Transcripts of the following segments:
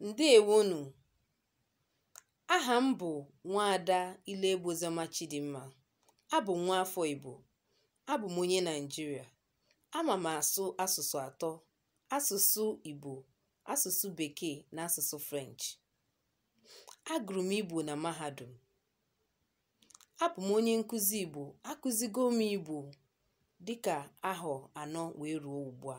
Ǹdeèwonù. Ahà m bụ̀ nwaada Ileegbu Oziọma Chidimma. Abụ m nwaafọ Igbo. Abụ m onye Naịjirịa. Ama m asụ asụsụ atọ, asụsụ Igbo, asụsụ Bekee na asụsụ French. Agụrụ m Igbo na mahadum. Abụ m onye nkụzi Igbo. Akụzigo m Igbo dịka ahọ anọ wee ruo ugbu a.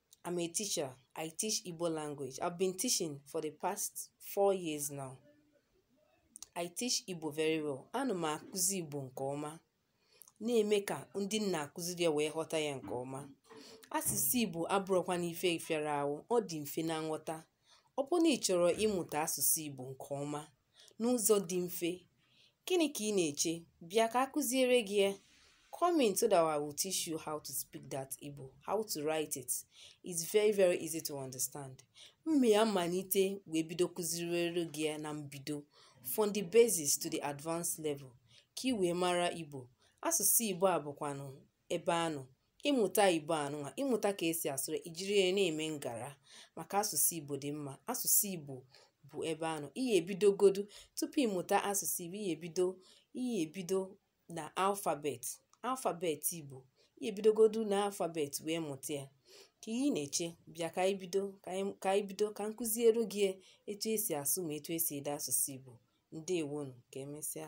I'm a teacher. I teach Igbo language. I've been teaching for the past four years now. I teach Igbo very well. Ana m akụzi Igbo nke ọma. Na-eme ka ndị m na-akụziri ya wee ghọta ya nke ọma. Asụsụ Igbo abụrọkwanụ ife fịara ahụ. Ọ dị mfe na nghọta. Ọ bụrụ na ị chọrọ ịmụta asụsụ Igbo nke ọma n'ụzọ dị mfe, gịnị ka ị na-eche? Bịa ka a kụziere gị ya. Come in so that I will teach you how to speak that Igbo, how to write it. It's very very easy to understand. M ya-amalite wee bido kụziere gị ya na mbido from the basis to the advanced level ka ị wee mara Igbo. Asụsụ Igbo a bụkwanụ ebe a nọ ị mụta igbo a nụnwa ị mụta ka e si asụ ya i jiri ya na-eme ngara maka asụsụ igbo dị mma asụsụ igbo bụ ebe a nọ ị ya-ebidogodu tupu ị mụta asụsụ igbo ị ya-ebido ị ya-ebido na alfabet alfabet igbo ị ya-ebidogodu na alfabet wee mụta ya kee ihe ị na-eche bịa ka anyị bido ka anyị- ka anyị bido ka m kụziere gị ya etu e si asụ ma etu e si ede asụsụ igbo ndeewonu ka emesịa